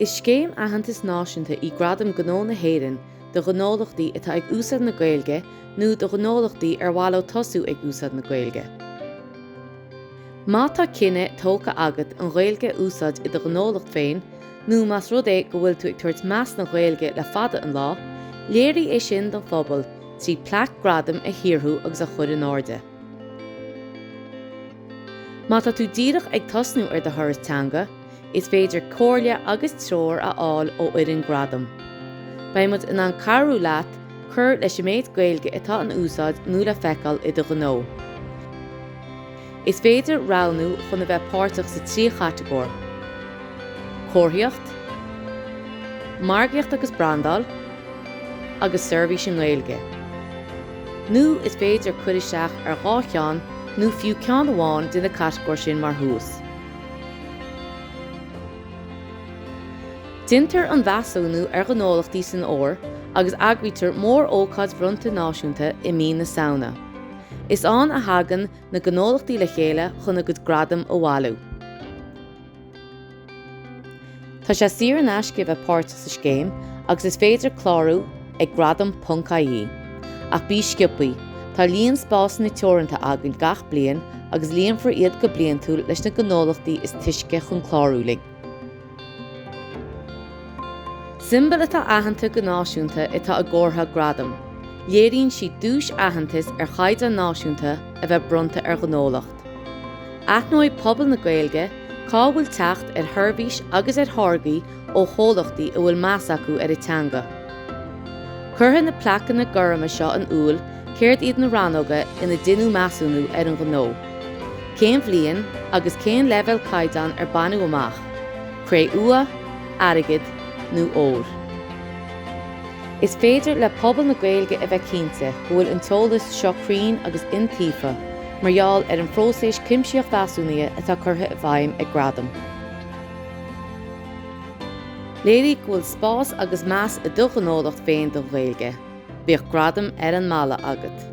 Is scéim aitheantais náisiúnta í Gradaim Gnó na hÉireann do ghnólachtaí atá ag úsáid na Gaeilge nó do ghnólachtaí ar mhaith leo tosú ag úsáid na Gaeilge. Má tá cinneadh tógtha agat an Ghaeilge a úsáid i do ghnólacht féin nó más rud é go bhfuil tú ag tabhairt meas don Ghaeilge le fada an lá, léirigh é sin don phobal trí plaic gradaim a shaothrú agus a chur in airde. Má tá tú díreach ag tosnú ar do thuras teanga, is féidir comhairle agus treoir a fháil ó fhoireann Gradaim. Beidh muid in ann cabhrú leat cur leis an méid Gaeilge atá in úsáid nó le feiceáil i do ghnó. Is féidir roghnú chun a bheith páirteach sa trí chatagóir, Comharthaíocht, Margaíocht agus Brandáil, agus seirbhís i nGaeilge. Nó is féidir cur isteach ar dhá cheann nó fiú ceann amháin de na catagóirí sin mar thús. Deintear an mheasúnú ar ghnólachtaí san fhómhar agus eagraítear mórócáid bhronnta náisiúnta i mí na Samhna. Is ann a thagann na gnólachtaí le chéile chun a gcuid gradam a bhailiú. Tá sé saor in aisce a bheith páirteach sa scéim agus is féidir clárú ag gradam ponc ie. Ach bí sciobtha, tá líon spásanna teoranta againn gach bliain agus líonfar iad go bliantúil leis na gnólachtaí is túisce chun clárú linn. Siombail atá aitheanta go náisiúnta atá i gcomhartha Gradaim. Léiríonn siad duais aitheantais ar chaighdeán náisiúnta a bheith bronnta ar ghnólacht. Aithneoidh pobal na Gaeilge cá bhfuil teacht ar sheirbhís agus ar tháirgí ó chomhlachtaí a bhfuil meas acu ar a dteanga. Cuirfidh na plaiceanna gorma seo in iúl céard iad na rannóga ina deineadh measúnú ar an ghnó, cén bhliain agus cén leibhéal caighdeáin ar baineadh amach, cré-umha, airgead nó ór. Is féidir le pobal na Gaeilge a bheith cinnte go bhfuil an t-eolas seo cruinn agus iontaofa. mar gheall ar an phróiseas cuimsitheach mheasúnaithe atá curtha i bhfeidhm ag Gradaim. Léirigh go bhfuil spás agus meas i do ghnólacht féin don Ghaeilge. Bíodh Gradaim ar an mballa agat.